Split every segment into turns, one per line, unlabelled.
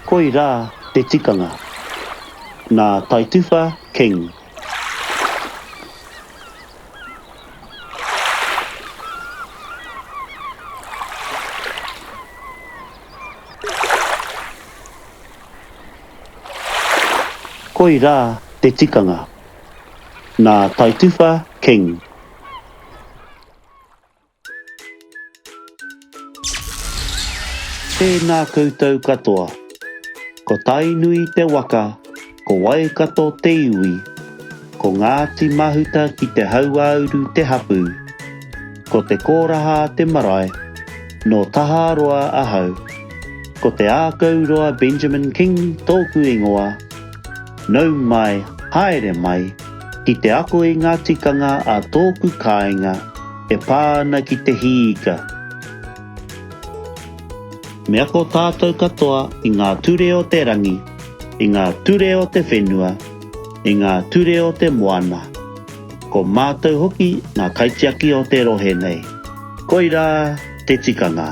Koirā te tikanga. Nā Taituwha King. Koirā te tikanga. Nā Taituwha King. Tēnā koutou katoa. Ko Tainui te waka, ko Waikato te iwi, ko Ngāti Mahuta ki te hauāuru te hapū, ko Te Kōrahā te marae, nō Taharoa ahau. Ko Te Ākauroa Benjamin King tōku ingoa. Nau mai, haere mai, ki te ako i ngā tikanga a tōku kāinga e pā ana ki te hī ika. Me ako tātou katoa i ngā ture o te rangi, i ngā ture o te whenua, i ngā ture o te moana. Ko mātou hoki ngā kaitiaki o te rohe nei. Koirā te tikanga.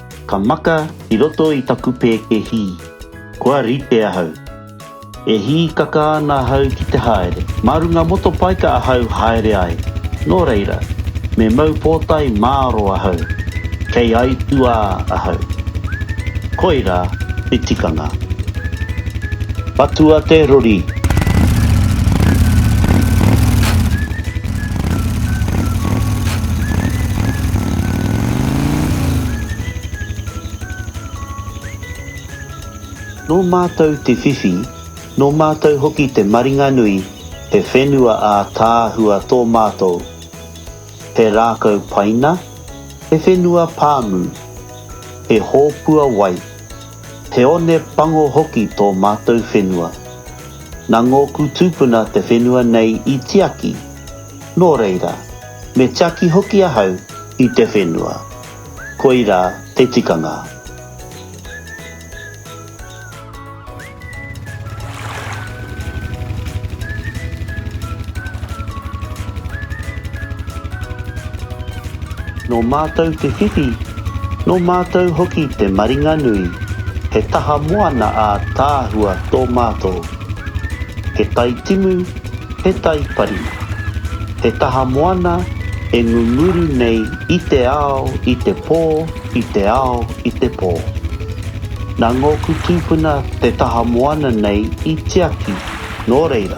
Ka maka i roto i taku pēke hī. Kua rite ahau. E hīkaka ana ahau ki te haere. Mā runga motopaika ahau haere ai. Nō reira, me mau pōtae māro ahau. Kei aituā ahau. Koirā te tikanga. Patua te rori. Nō mātou te whiwhi, nō mātou hoki te maringanui he whenua ātaahua tō mātou. He rākau paina, he whenua pāmu, he hōpua wai. Te one pango hoki tō mātou whenua. Nā ngōku tūpuna te whenua nei i tiaki, nō reira, me tiaki hoki ahau i te whenua. Koirā te tikanga. Nō mātou te whiwhi, nō mātou hoki te maringanui, he taha moana ātaahua tō mātou. He tai timu, he tai pari. He taha moana e ngunguru nei i te ao, i te pō, i te ao, i te pō. Nā ngōku tūpuna te taha moana nei i tiaki, nō reira,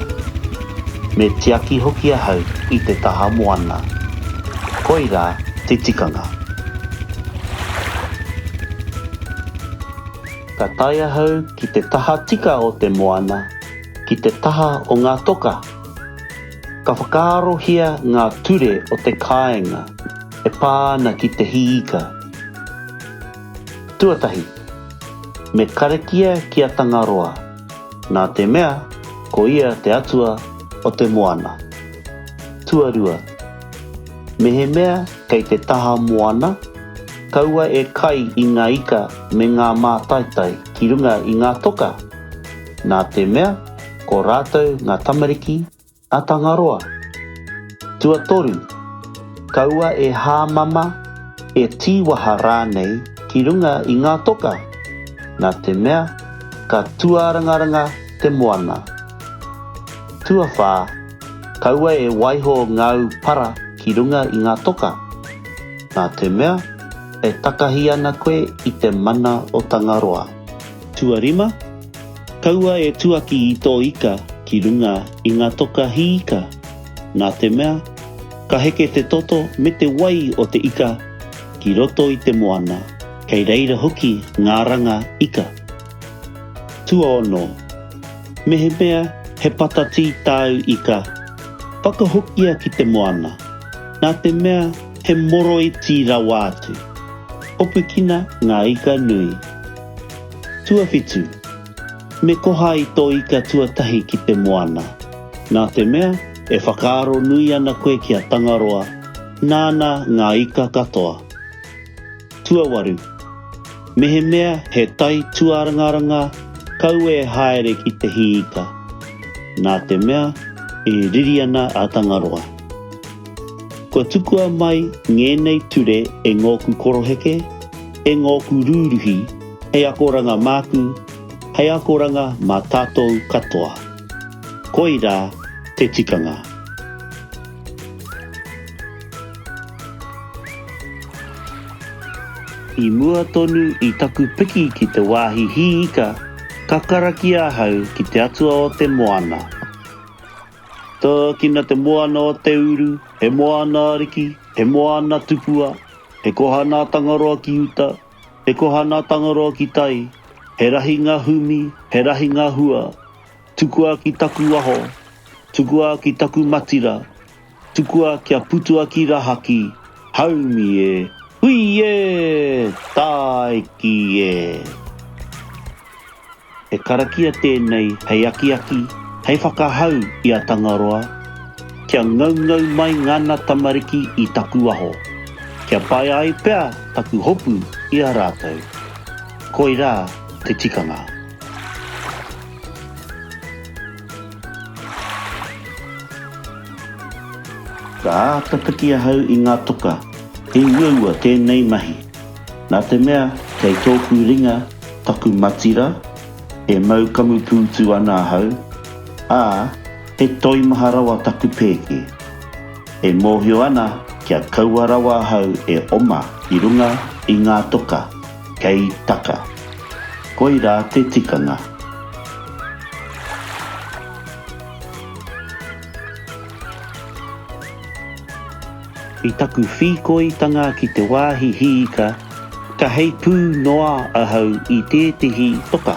me tiaki hoki ahau i te taha moana. Koirā te tikanga. Ka tae ahau ki te taha tika o te moana, ki te taha o ngā toka. Ka whakaarohia ngā ture o te kāinga. e pā ana ki te hī ika. Tuatahi, me karakia ki a Tangaroa, nā te mea ko ia te atua o te moana. Tuarua, mehemea kei te taha moana, kaua e kai i ngā ika me ngā mātaitai ki runga i ngā toka, nā te mea ko rātou ngā tamariki, A Tangaroa. Tuatoru, kaua e hāmama, e tīwaha rānei ki runga i ngā toka, nā te mea ka tuārangaranga te moana. Tuawhā, kaua e waiho ngāu para ki runga i ngā toka, nā te mea e takahi ana koe i te mana o Tangaroa. Tuarima, Kaua e tuaki i tō ika ki runga i ngā toka hī ika, nā te mea, ka heke te toto me te wai o te ika ki roto i te moana, kei reira hoki ngā ranga ika. Tuaono. Mehemea he patatī tāu ika, whakahokia ki te moana, nā te mea he moroiti rawa atu. Hopukina ngā ika nui. Tuawhitu, Me koha i tō ika tuatahi ki te moana. Nā te mea, e whakaaro nui ana koe ki a Tangaroa, nāna ngā ika katoa. Tuawaru, Mehemea he tai tuarangaranga kaua e haere ki te hī ika. Nā te mea, e riri ana a Tangaroa. Kua tukua mai ngēnei ture e ngōku koroheke, e ngōku rūruhi, Hei akoranga māku, hei akoranga mā tātou katoa. Koirā te tikanga. I mua tonu i taku piki ki te wāhi hī ika, ka karakia ahau ki te atua o te moana. Tōkina te moana o te uru, he moana ariki, he moana tupua, he koha nā Tangaroa ki uta, Te koha nā Tangaroa ki tai, he rahi ngā humi, he rahi ngā hua, tukua ki taku waho, tukua ki taku matira, tukua kia putua ki rahaki, haumi e, hui e, tāiki e. He karakia tēnei hei akiaki, hei whakahau i a Tangaroa, kia ngaungau mai ngana tamariki i taku aho, kia pai ai pea taku hopu i a rātou. Koirā te tikanga. Ka āta piki ahau i ngā toka, he uaua tēnei mahi. Nā te mea kei tōku ringa taku matira, e mau kamupūtu ana ahau, ā, he toimaha rawa taku pēke. E mōhio ana kia kaua rawa ahau e oma ki runga i ngā toka kei taka. Koirā te tikanga. I taku whīkoitanga ki te wāhi hiika, ka heipū noa ahau i tētehi toka.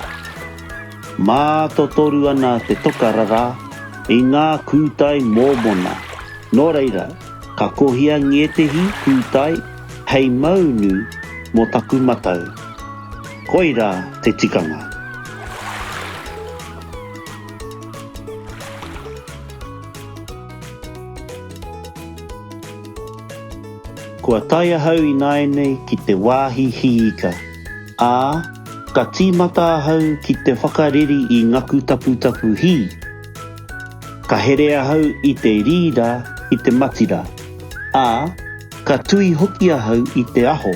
Mātotoru ana te toka rarā i ngā kūtai mōmona, nō reira, ka kohia ngētehi kūtai hei maunu mō taku matau. Koirā te tikanga. Kua tae ahau ināianei ki te wāhi hiika, ā, ka tīmata ahau ki te whakareri i ngaku taputapu hī. Ka here ahau i te rīra ki te matira, ā, ka tui hoki ahau i te aho,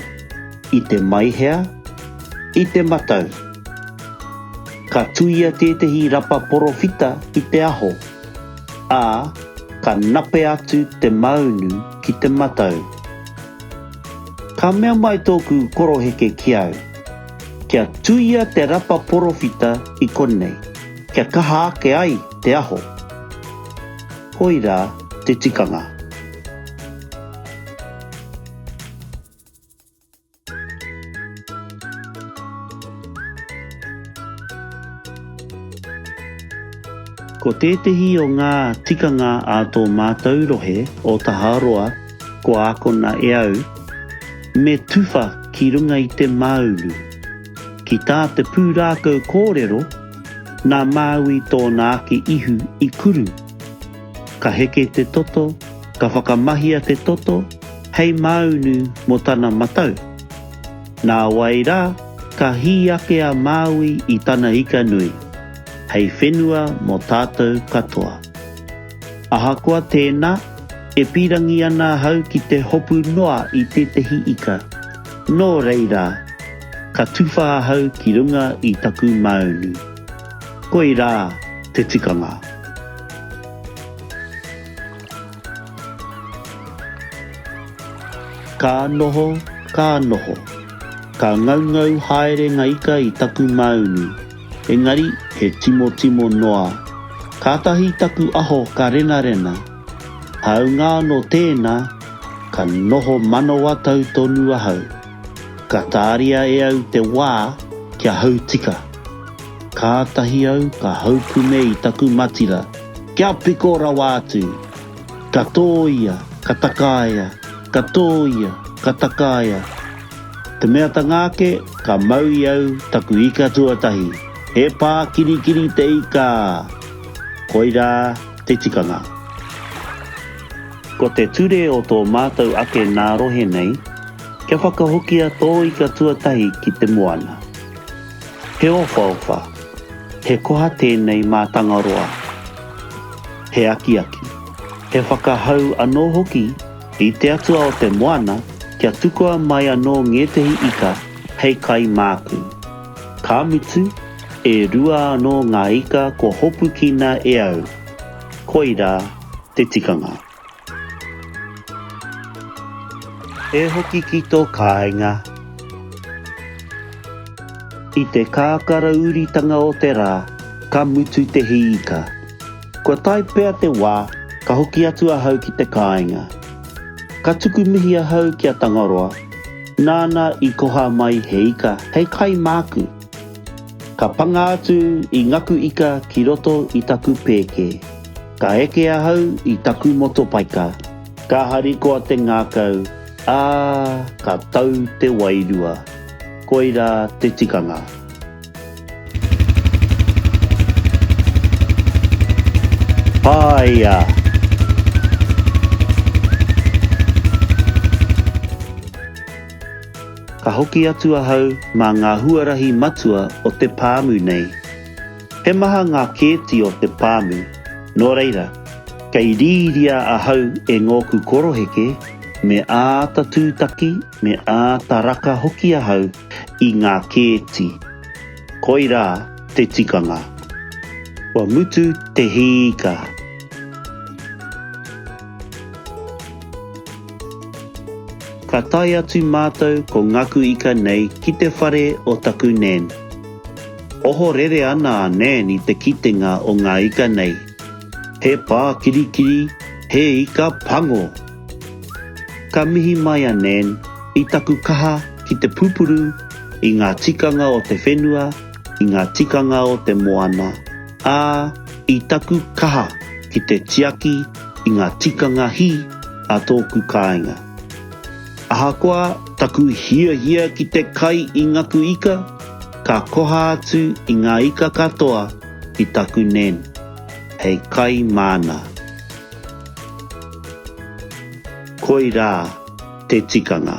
i te maihea, i te matau. Ka tuia tētehi rapa porowhita ki te aho. ā, ka nape atu te maunu ki te matau. Ka mea mai tōku koroheke ki au, Kia tuia te rapa porowhita i konei, kia kaha ake ai te aho. Koirā te tikanga. Ko tētehi o ngā tikanga a tō mātou rohe o Taharoa kua akona e au, me tuwha ki runga i te māunu. Ki tā te pūrākau kōrero, nā Māui tōna ake ihu i kuru. Ka heke te toto, ka whakamahia te toto hei māunu mō tana matau. Nā wai rā, ka hī ake a Māui i tana ika nui, hei whenua mō tātou katoa. Ahakoa tēnā, e pīrangi ana ahau ki te hopu noa i tētehi ika. Nō reira, ka tuwha ahau ki runga i taku māunu. Koirā te tikanga. Ka noho, ka noho. Ka ngaungau haere nga ika i taku maunu, engari he timotimo noa. Kātahi taku aho ka renarena. Hāunga anō tēnā, ka noho manawa tau tonu ahau. Ka tāria e au te wā kia hau tika. Kātahi au ka haupune i taku matira, kia piko rawa atu! Ka tōia, ka takaia, ka tōia, ka takaia. Te mea ta ngā ake, ka mau i au taku ika tuatahi, he pā kirikiri te ika! Koirā te tikanga. Ko te ture o tō mātou ake nā rohe nei, Kia whakahokia tō ika tuatahi ki te moana. He owhaowha, he koha tēnei mā Tangaroa. He akiaki, he whakahau anō hoki i te atua o te moana kia tukua mai anō ngētehi ika hei kai māku. Ka mutu, e rua anō ngā ika kua hopukina e au. Koirā te tikanga. E hoki ki tō kāinga. I te kākara uritanga o te rā, ka mutu te hī ika. Kua tae pea te wā, ka hoki atu ahau ki te kāinga. Ka tuku mihi ahau ki a Tangaroa, nāna i koha mai he ika hei kai māku. Ka panga atu i ngaku ika ki roto i taku pēke. Ka eke ahau i taku motopaika, ka harikoa te ngākau, ā, ka tau te wairua. Koirā te tikanga. Whāia! Ka hoki atu ahau mā ngā huarahi matua o te pāmu nei. He maha ngā kēti o te pāmu, nō reira, kei rīria ahau e ngōku koroheke, me āta tūtaki, me āta raka hoki ahau i ngā kēti. Koirā te tikanga. Kua mutu te hīika. Ka tae atu mātou ko Ngaku Ika nei ki te whare o taku Nan. Ohorere ana a Nan i te kitenga o ngā ika nei. He pā kirikiri, he ika pango! Ka mihi mai a Nan i taku kaha ki te pupuru i ngā tikanga o te whenua, i ngā tikanga o te moana, ā, i taku kaha ki te tiaki i ngā tikanga hī a tōku kāinga. Ahakoa taku hiahia ki te kai i ngaku ika, ka koha atu i ngā ika katoa ki taku nen, hei kai māna. Koirā te tikanga.